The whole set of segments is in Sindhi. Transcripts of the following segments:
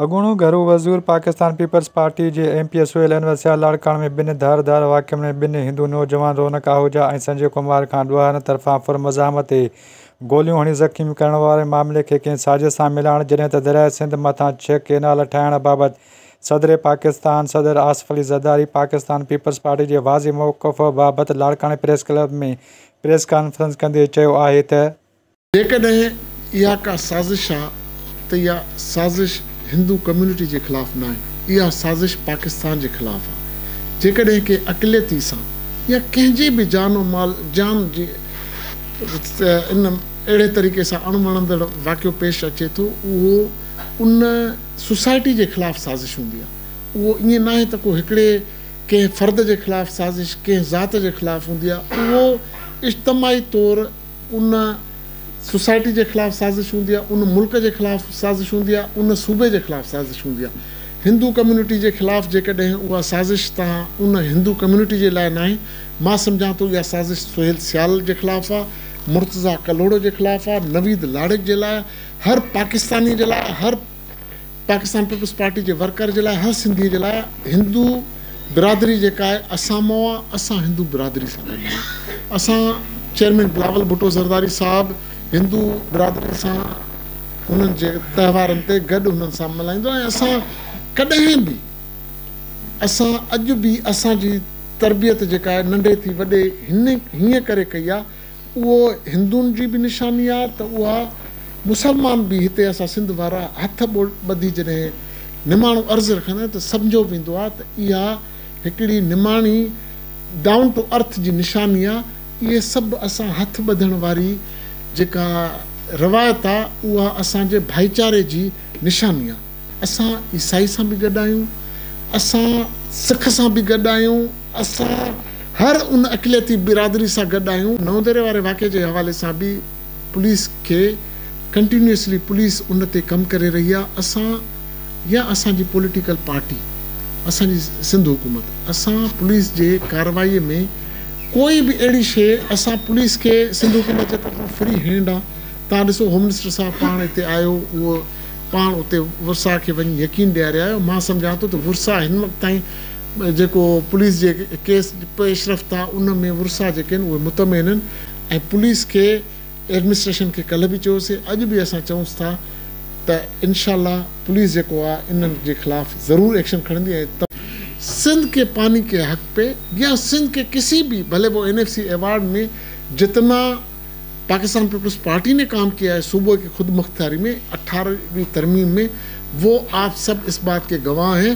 اڳوڻو گهرو وزير پاڪستان پيپلز پارٽي جي M P A Sohail Anwar Sial لاڙڪاڻي ۾ ٻن ڌار ڌار واقعن ۾ ٻن هندو نوجوان رونق آهوجا ۽ سنجي ڪمار کان ڏوهارين طرفان پر مزاحمت تي گوليون هڻي زخمي ڪرڻ واري معاملي کي ڪنهن سازش سان ملائڻ جڏهن ته درياء سنڌ مٿان ڇهه ڪينال ٺاهڻ بابت صدر پاڪستان صدر آصف علي زرداري پاڪستان پيپلز پارٽي جي واضح موقف بابت لاڙڪاڻي پريس ڪلب ۾ پريس ڪانفرنس ڪندي چيو آهي ته جيڪڏهن اها ڪا سازش آ ته اها سازش هندو ڪميونٽي جي خلاف ناهي، اها سازش پاڪستان جي خلاف آ، جيڪڏهن ڪنهن اقليتي سان يا ڪنهن جي به جان و مال جان جي ان اهڙي طريقي سان اڻ وڻندڙ واقعو پيش اچي ٿو اهو ان سوسائٽي جي خلاف سازش هوندي آ، اهو ائين ناهي ته ڪو هڪڙي ڪنهن فرد جي خلاف سازش ڪنهن ذات جي خلاف هوندي آ، اهو اجتماعي طور ان سوسائٽي جي خلاف سازش هوندي آهي، ان ملڪ جي خلاف سازش هوندي آهي، ان صوبي جي خلاف سازش هوندي آهي. هندو ڪميونٽي جي خلاف جيڪڏهن اها سازش تان ان هندو ڪميونٽي جي لاء ناهي، مان سمجهان ٿو اها سازش سهيل سيال جي خلاف آهي، مرتضيٰ ڪلهوڙو جي خلاف آهي، نويد لاڙڪ جي لاء آهي، هر پاڪستاني جي لاء آهي، هر پاڪستان پيپلز پارٽي جي ورڪر جي لاء هر سنڌي جي لاء هندو برادري جيڪا آهي اسان مئو آهي اسان هندو برادري سان گڏ آهيون اسان چيئرمين بلاول ڀٽو زرداري صاحب هندو برادري سان انهن جي تهوارن تي گڏ انهن سان ملهائيندو ۽ اسان ڪڏهن به اسان اڄ به اسان جي تربيت جيڪا آهي ننڍي ٿي وڏي هن هيئن ڪري ڪئي آهي اهو هندن جي به نشاني آ ته اها مسلمان به هتي اسان سنڌ وارا هٿ ٻڌي جڏهن نماڻو عرض رکندا آهيون ته سمجهيو ويندو آ ته اها هڪڙي نماڻي ڊائون ٽو ارٿ جي نشاني آ اهي سڀ اسان هٿ ٻڌڻ واري جيڪا روايت آ اها اسان جي ڀائيچاري جي نشاني آ اسان عيسائي سان به گڏ آهيون اسان سک سان به گڏ آهيون اسان هر ان اقليتي برادري سان گڏ آهيون، نونديري واري واقعي جي حوالي سان به پوليس کي ڪنٽينيوسلي پوليس ان تي ڪم ڪري رهي آهي، اسان يا اسان جي پوليٽيڪل پارٽي، اسان جي سنڌ حڪومت اسان پوليس جي ڪارروائي ۾ ڪوئي به اهڙي شيء اسان پوليس کي سنڌ حڪومت جي طرفان فري هينڊ آ توهان ڏسو هوم منسٽر صاحب پاڻ هتي آيو اهو پاڻ اتي ورساهه کي وڃي يقين ڏياري آيو مان سمجهان ٿو ته ورساهه هن وقت تائين جيڪو پوليس جي ڪيس پيش رفت آ ان ۾ ورسا جيڪي آهن اهي مطمئن آهن ۽ پوليس کي ايڊمنسٽريشن کي ڪلهه به چيوسي اڄ به اسان چئونس ٿا ته انشاء الله پوليس جيڪو آ انهن جي خلاف ضرور ايڪشن کڻندي ۽ سنڌ ڪي پاني ڪي حق پي يا سنڌ ڪي ڪسي بي ڀلي وو اين ايف سي ايوارڊ مي جتنا پاڪستان پيپلز پارٽي ني ڪام ڪيا هي صوبه ڪي خودمختياري مي اٺارهه وي ترميم مي وو آپ سب اس بات ڪي گواه هين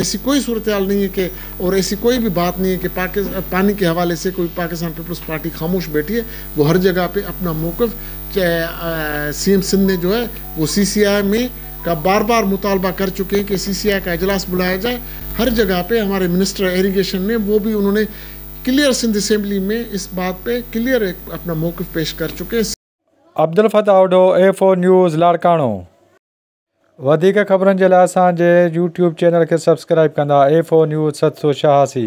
ايسي ڪوئي صورتحال نهين هي ڪي اور ايسي ڪوئي بي بات نهين هي ڪي پاني ڪي حوالي سي ڪوئي پاڪستان پيپلز پارٽي خاموش بيٺي هي وو هر جگه پي اپنا موقف سي ايم سنڌ ني جو هي وو سي سي آئي مي ڪا بار بار مطالبا ڪر چڪي هي ڪي سي سي آئي ڪا اجلاس بلايا جائي هر جگه پي هماري منسٽر ايريگيشن ني وو بي انهون ني ڪليئر سنڌ اسيمبلي مي اس بات پي ڪليئر اپنا موقف پيش ڪر چڪي هي. Abdel Fattah Odho, F O news, Larkana. وڌيڪ خبرن جي لاء اسان جي يوٽيوب چينل کي سبسڪرائيب ڪندا ايف او نيوز ست سو ڇهاسي.